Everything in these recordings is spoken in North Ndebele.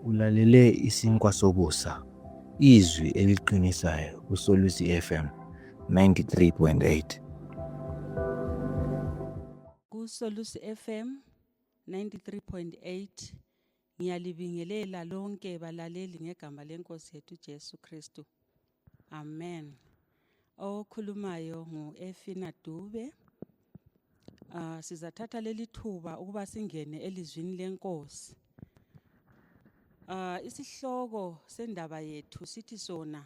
Ulalele isinkwa sokusa, izwi eliqinisayo kuSolusi FM 93.8. KuSolusi FM 93.8 ngiyalibingelela lonke balaleli ngegama lenkosi yethu Jesu Kristu. Amen. Okhulumayo ngu Efina Dube. Uh, sizathatha leli thuba ukuba singene elizwini lenkosi. Uh, isihloko sendaba yethu sithi sona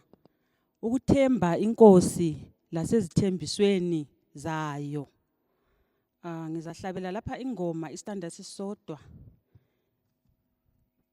ukuthemba inkosi lasezithembisweni zayo. Uh, ngizahlabela lapha ingoma istanda sisodwa.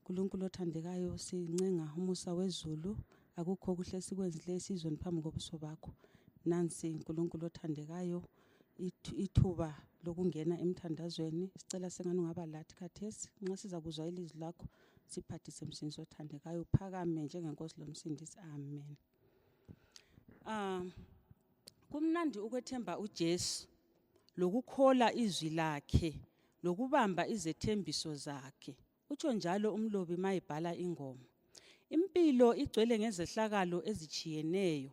nkulunkulu othandekayo sincenga umusa wezulu akukho kuhle sikwenzile esizweni phambi kobuso bakho nansi nkulunkulu othandekayo ithuba lokungena emthandazweni sicela sengani ungaba lathi khathesi nxa siza kuzwa ilizwi lakho siphathise msindisi othandekayo uphakame njengenkosi lomsindisi amen um kumnandi ukwethemba ujesu lokukhola izwi lakhe lokubamba izethembiso zakhe utsho njalo umlobi ma ebhala ingoma impilo igcwele ngezehlakalo ezitshiyeneyo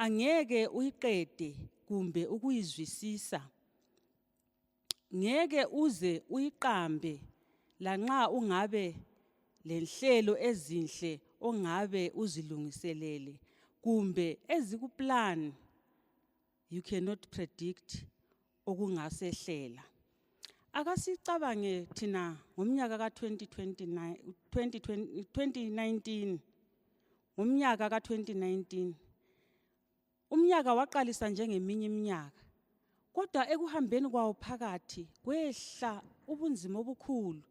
angeke uyiqede kumbe ukuyizwisisa ngeke uze uyiqambe lanxa ungabe lenhlelo ezinhle ongabe uzilungiselele kumbe ezikuplan you cannot predict okungasehlela akasicabange thina ngomnyaka ka-2029 2019 ngomnyaka ka-2019 umnyaka waqalisa njengeminye iminyaka kodwa ekuhambeni kwawo phakathi kwehla ubunzima obukhulu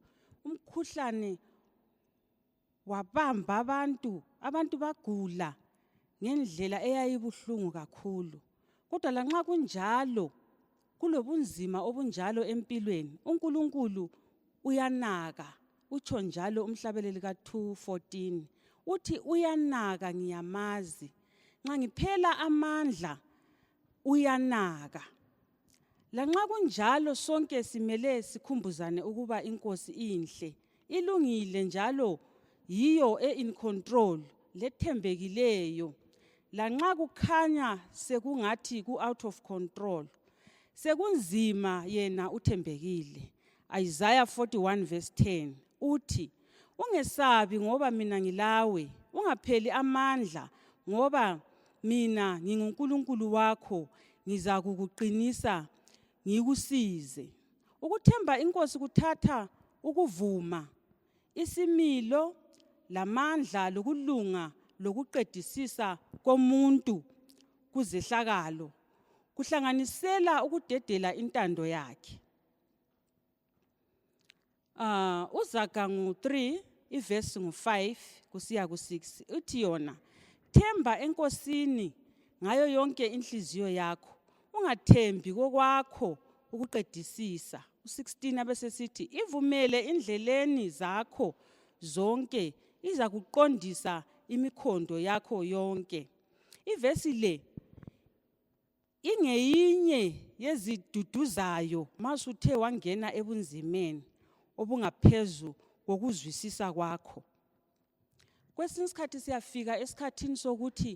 umkhuhlane wabamba abantu abantu bagula ngendlela eyayibuhlungu kakhulu kodwa lanxa kunjalo kulobunzima obunjalo empilweni uNkulunkulu uyanaka utsho njalo umhlabeleli ka 214 uthi uyanaka ngiyamazi nxa ngiphela amandla uyanaka Lanxa kunjalo sonke simele sikhumbuzane ukuba inkosi inhle, ilungile njalo yiyo e-in control lethembekileyo. Lanxa kukhanya sekungathi ku-out of control, sekunzima yena uthembekile. Isaiah 41 verse 10 uthi ungesabi ngoba mina ngilawe ungapheli amandla ngoba mina nginguNkulunkulu wakho ngizakukuqinisa ngikusize ukuthemba inkosi kuthatha ukuvuma isimilo lamandla lokulunga lokuqedisisa komuntu kuzehlakalo kuhlanganisela ukudedela intando yakhe Uh, uzaga ngu-3 ivesi ngu-5 kusiya ku-6 uthi yona themba enkosini ngayo yonke inhliziyo yakho ungathembi kokwakho ukuqedisisa u-16 abesesithi ivumele indleleni zakho zonke iza kuqondisa imikhondo yakho yonke ivesi le ingeyinye yeziduduzayo ma suthe wangena ebunzimeni obungaphezu kokuzwisisa kwakho kwesinye isikhathi siyafika esikhathini sokuthi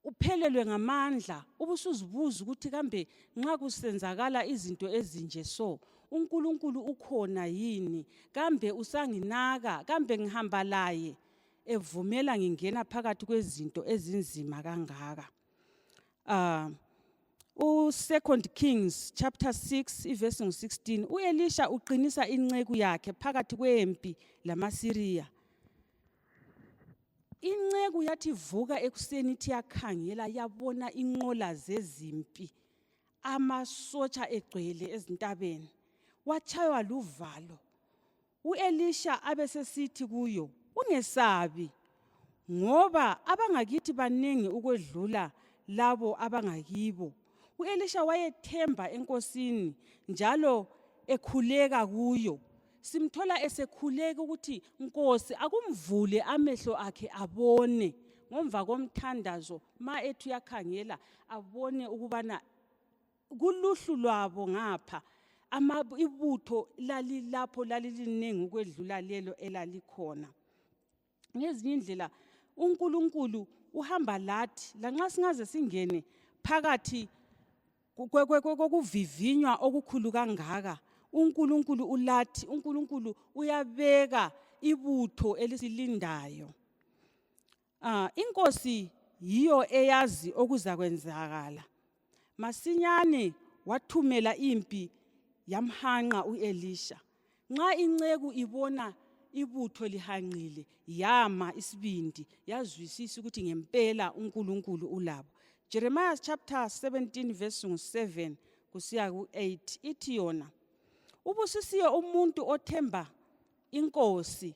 uphelelwe ngamandla ubusuzibuza ukuthi kambe nxa kusenzakala izinto ezinje so uNkulunkulu ukhona yini kambe usanginaka kambe ngihamba laye evumela ngingena phakathi kwezinto ezinzima kangaka uh, u-second kings chapter 6 ivesi ngu-16 u-elisha uqinisa inceku yakhe phakathi kwempi lamasiriya inceku yathi vuka ekuseni ithi yakhangela yabona inqola zezimpi amasotsha egcwele ezintabeni watshaywa luvalo U-Elisha abesesithi kuyo, Ungesabi, ngoba abangakithi baningi ukwedlula labo abangakibo. U-Elisha wayethemba enkosini njalo ekhuleka kuyo. Simthola esekhuleka ukuthi Nkosi akumvule amehlo akhe abone ngomva komthandazo ma ethi uyakhangela abone ukubana kuluhlu lwabo ngapha ama ibutho lalilapho laliliningi ukwedlula lelo elalikhona ngezinye indlela uNkulunkulu uhamba lathi lanxa singaze singene phakathi kokuvivinywa okukhulu kangaka uNkulunkulu ulathi uNkulunkulu uyabeka ibutho elisilindayo Ah, inkosi yiyo eyazi okuzakwenzakala. Masinyane wathumela impi yamhanqa uElisha. Nxa inceku ibona ibutho lihanqile yama isibindi yazwisisa ukuthi ngempela uNkulunkulu ulabo. Jeremiah chapter 17 verse 7 kusiya ku8 ithi yona ubusisiwe umuntu othemba inkosi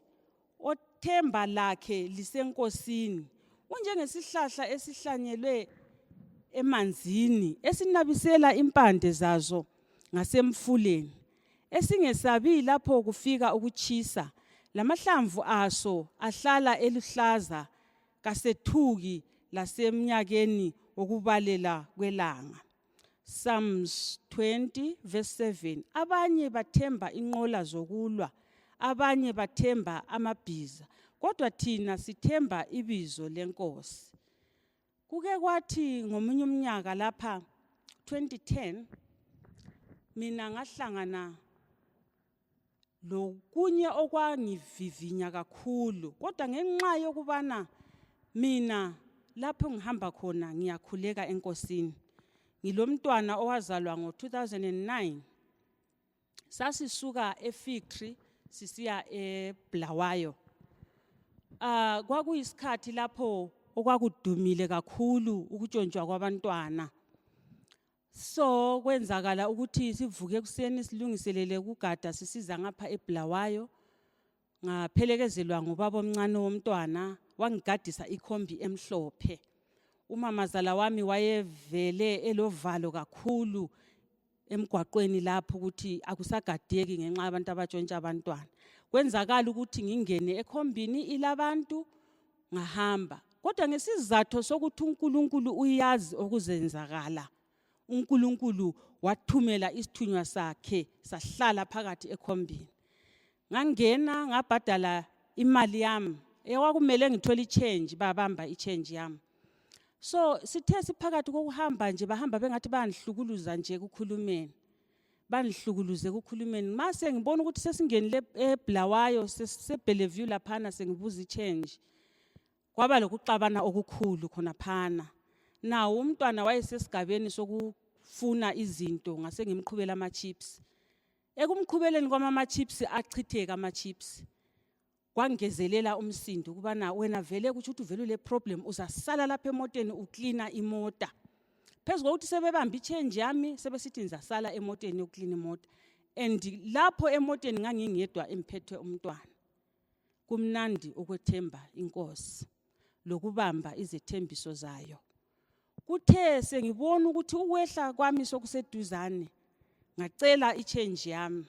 othemba lakhe lisenkosini unjengesihlahla esihlanyelwe emanzini esinabisela impande zazo ngasemfuleni esingesabi lapho kufika ukutshisa lamahlamvu aso ahlala eluhlaza kasethuki lasemnyakeni wokubalela kwelanga Psalms 20 verse 7 abanye bathemba inqola zokulwa abanye bathemba amabhiza kodwa thina sithemba ibizo lenkosi kuke kwathi ngomunye umnyaka lapha 2010 mina ngahlangana lokunye okwangivivinya kakhulu kodwa ngenxa yokubana mina lapho ngihamba khona ngiyakhuleka enkosini ngilomntwana owazalwa ngo-2009 sasisuka efactory sisiya ebulawayo uh, kwakuyisikhathi lapho okwakudumile kakhulu ukutshontshwa kwabantwana so kwenzakala ukuthi sivuke ekuseni silungiselele ukugada sisiza ngapha ebulawayo ngaphelekezelwa ngubaba omncane womntwana wangigadisa ikhombi emhlophe umamazala wami wayevele elovalo kakhulu emgwaqweni lapho ukuthi akusagadeki ngenxa yabantu abatshontsha abantwana kwenzakala ukuthi ngingene ekhombini ilabantu ngahamba kodwa ngesizatho sokuthi uNkulunkulu uyazi okuzenzakala uNkulunkulu wathumela isithunywa sakhe sahlala phakathi ekhombini ngangena ngabhadala imali yami ekwakumele ngithole ichange babamba ichange yami so sithe siphakathi kokuhamba nje bahamba bengathi bayangihlukuluza nje ekukhulumeni bangihlukuluze ekukhulumeni ma sengibona ukuthi sesingenile ebulawayo sebellevue laphana sengibuza ichange kwaba lokuxabana okukhulu khona phana nawo umntwana wayesesigabeni sokufuna izinto ngase ngimqhubela ama-chips ekumqhubeleni kwami ama-chips achitheka ama-chips kwangezelela umsindo ukubana wena vele kutsho ukuthi uvele ule problem uzasala lapha emoteni uklina imota phezu kokuthi sebebambe ichange yami sebesithi ngizasala emoteni yokuklina imota and lapho emoteni ngangingedwa emphethwe umntwana kumnandi ukwethemba inkosi lokubamba izethembiso zayo kuthe sengibona ukuthi ukwehla kwami sokuseduzane ngacela ichange yami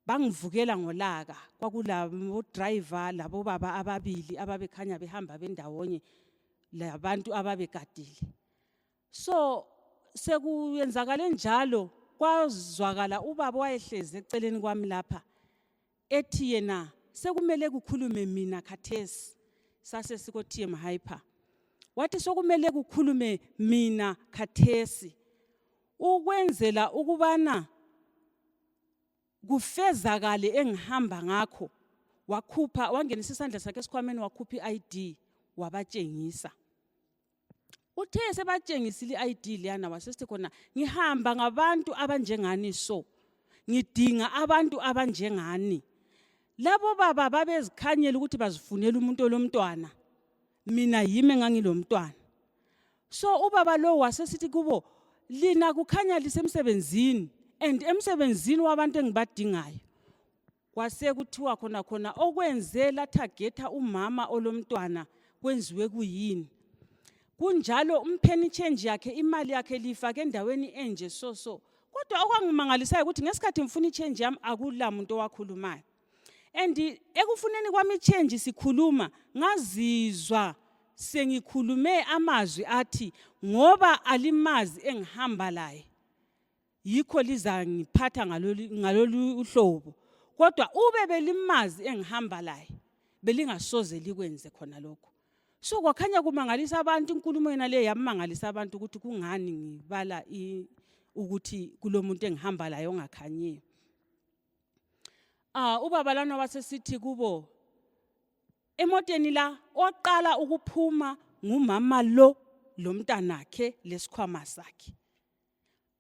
bangivukela ngolaka kwakulabodrayiva labobaba ababili ababekhanya behamba bendawonye labantu ababegadile so sekuyenzakale njalo kwazwakala ubaba wayehlezi eceleni kwami lapha ethi yena sekumele kukhulume mina khathesi sase sikotm hyper wathi sokumele kukhulume mina khathesi ukwenzela ukubana kufezakale engihamba ngakho wakhupha wangenisa isandla sakhe esikhwameni wakhupha i-id wabatshengisa uthe sebatshengisile i-id leyana wasesithi khona ngihamba ngabantu abanjengani so ngidinga abantu abanjengani labo baba babezikhanyela ukuthi bazifunela umuntu olomntwana mina yimi engangilomntwana so ubaba lowo wasesithi kubo lina kukhanya lisemsebenzini and emsebenzini wabantu engibadingayo kwasekuthiwa khona khona okwenze lathagetha umama olomntwana kwenziwe kuyini kunjalo umpheni change yakhe imali yakhe lifake endaweni enje so so kodwa okwangimangalisayo ukuthi ngesikhathi ngifuna ichange yami akula muntu owakhulumayo and ekufuneni kwami change sikhuluma ngazizwa sengikhulume amazwi athi ngoba alimazi engihamba laye yikho lizangiphatha ngalolu uhlobo kodwa ube belimazi engihamba laye belingasoze likwenze khona lokho so kwakhanya kumangalisa abantu inkulumo yena le yamangalisa abantu ukuthi kungani ngibala ukuthi kulomuntu engihamba laye ongakhanyiyo Ah ubaba lana wasesithi kubo emoteni la oqala ukuphuma ngumama lo lomntanakhe lesikhwama sakhe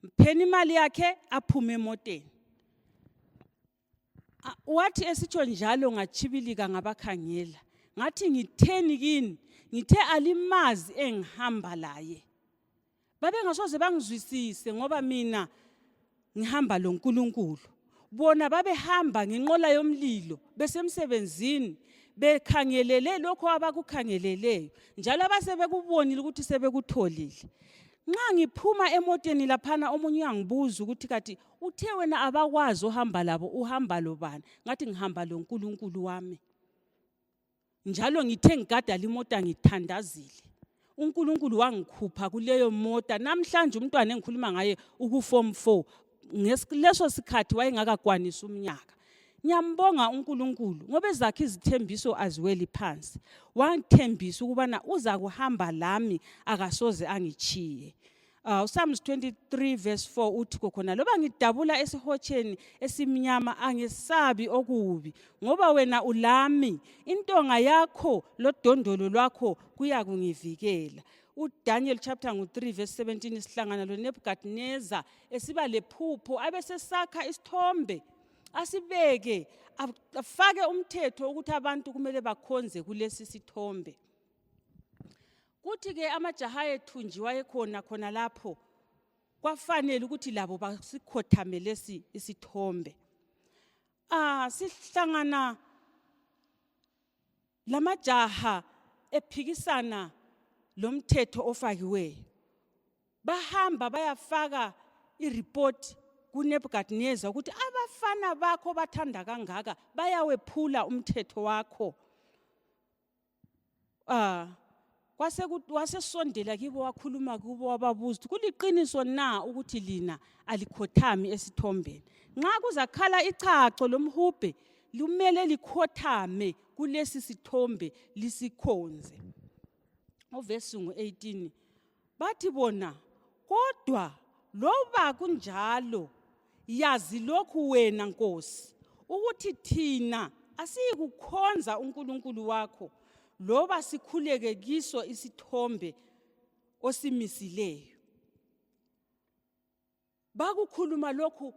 mpheni imali yakhe aphume emoteni ah, wathi esitsho njalo ngatshibilika ngabakhangela ngathi ngitheni kini ngithe alimazi engihamba laye babengasoze bangizwisise ngoba mina ngihamba loNkulunkulu bona babehamba ngenqola yomlilo besemsebenzini bekhangelele lokho abakukhangeleleyo njalo abasebekubonile ukuthi sebekutholile nxa ngiphuma emoteni laphana omunye uyangibuza ukuthi kathi uthe wena abakwazi ohamba labo uhamba lobani ngathi ngihamba loNkulunkulu wami njalo ngithe ngigada limota ngithandazile uNkulunkulu wangikhupha kuleyo mota namhlanje umntwana engikhuluma ngaye ukuform 4 ngesileso sikhathi wayengakakwanisi umnyaka ngiyambonga uNkulunkulu ngoba ezakhe izithembiso aziweli phansi wangithembisa ukubana uza kuhamba lami akasoze angichiye Uh, uSalms 23 verse 4 uthi kokhona loba ngidabula esihotsheni esimnyama angesabi okubi ngoba wena ulami intonga yakho lodondolo lwakho kuyakungivikela uDaniel chapter ngu-3 verse 17 sihlangana loNebukadneza esiba lephupho abesesakha isithombe asibeke afake umthetho ukuthi abantu kumele bakhonze kulesi sithombe kuthi ke amajaha ayethunjiwa ekhona khona lapho kwafanele ukuthi labo basikhothame lesi isithombe ah sihlangana lamajaha ephikisana lomthetho ofakiweyo bahamba bayafaka ireport kunebukadnezar ukuthi abafana bakho bathanda kangaka bayawephula umthetho wakho Ah, wasesondela kibo wakhuluma kubo wababuza ukuthi kuliqiniso na ukuthi lina alikhothami esithombeni nxa kuzakhala ichacho lomhubhe lumele likhothame kulesi sithombe lisikhonze uvesi ngu-18 bathi bona kodwa loba kunjalo yazi lokhu wena nkosi ukuthi thina asiyikukhonza uNkulunkulu wakho loba sikhuleke kiso isithombe osimisileyo bakukhuluma lokhu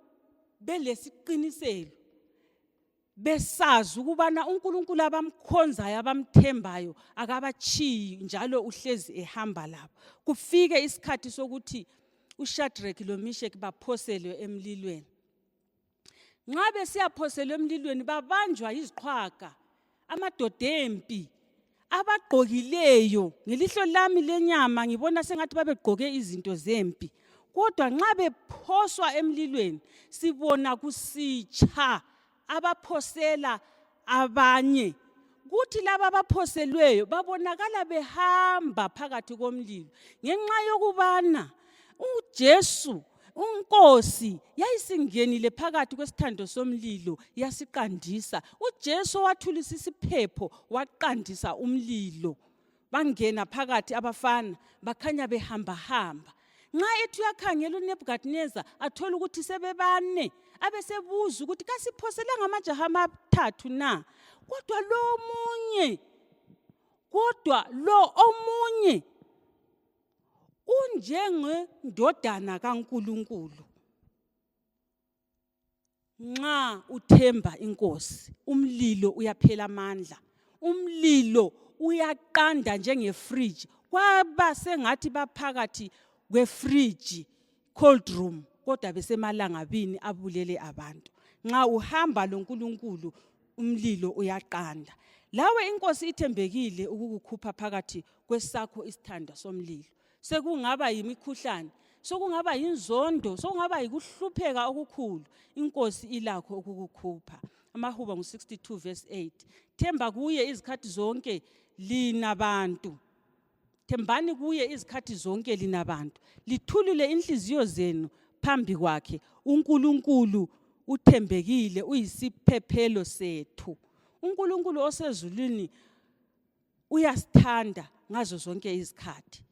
belesiqiniselo besazi ukubana uNkulunkulu abamkhonzayo abamthembayo akabatshiyi njalo uhlezi ehamba labo kufike isikhathi sokuthi uShadrach loMeshach baphoselwe emlilweni nxa besiyaphoselwa emlilweni babanjwa yiziqhwaga amadoda empi abagqokileyo ngelihlo lami lenyama ngibona sengathi babegqoke izinto zempi kodwa nxa bephoswa emlilweni sibona kusitsha abaphosela abanye kuthi laba abaphoselweyo babonakala behamba phakathi komlilo ngenxa yokubana uJesu unkosi yayisingenile phakathi kwesithando somlilo yasiqandisa uJesu wathulisa isiphepho waqandisa umlilo bangena phakathi abafana bakhanya behambahamba nxa ethi uyakhangela unebukadineza athole ukuthi sebebane abesebuza ukuthi kasiphoselanga amajaha amathathu na kodwa lo omunye kodwa lo omunye unjengendodana kaNkuluNkulu nxa uthemba inkosi umlilo uyaphela amandla umlilo uyaqanda njengefriji kwaba sengathi baphakathi kwefriji cold room kodwa besemalangabini abulele abantu nxa uhamba lonkulunkulu umlilo uyaqanda lawe inkosi ithembekile ukukukhupha phakathi kwesakho isithanda somlilo sekungaba yimikhuhlane sokungaba yinzondo sokungaba yikuhlupheka okukhulu inkosi ilakho ukukukhupha amahuba ngu-62 verse 8 themba kuye izikhathi zonke lina bantu thembani kuye izikhathi zonke lina bantu lithulule inhliziyo zenu phambi kwakhe unkulunkulu uthembekile uyisiphephelo sethu unkulunkulu osezulwini uyasithanda ngazo zonke izikhathi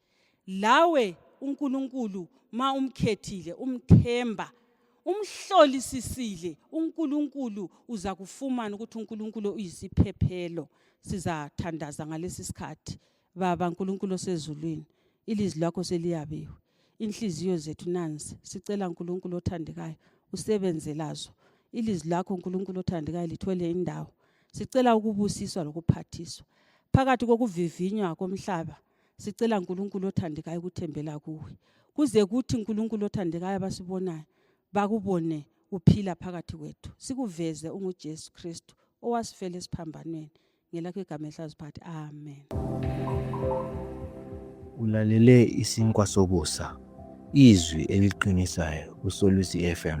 lawe uNkulunkulu ma umkhethile umthemba umhlolisisile uNkulunkulu uza kufumana ukuthi uNkulunkulu uyisiphephelo sizathandaza ngalesi sikhathi baba uNkulunkulu osezulwini ilizwi lakho seliyabiwe inhliziyo zethu nanzi sicela uNkulunkulu othandekayo usebenze lazo ilizwi lakho uNkulunkulu othandekayo lithole indawo sicela ukubusiswa lokuphathiswa phakathi kokuvivinywa komhlaba sicela nkulunkulu othandekayo ukuthembela kuwe kuze kuthi nkulunkulu othandekayo abasibonayo bakubone uphila phakathi kwethu sikuveze ungujesu kristu owasifela esiphambanweni ngelakho igama ehlaziphathi amen ulalele isinkwa sokusa izwi eliqinisayo kusolusi fm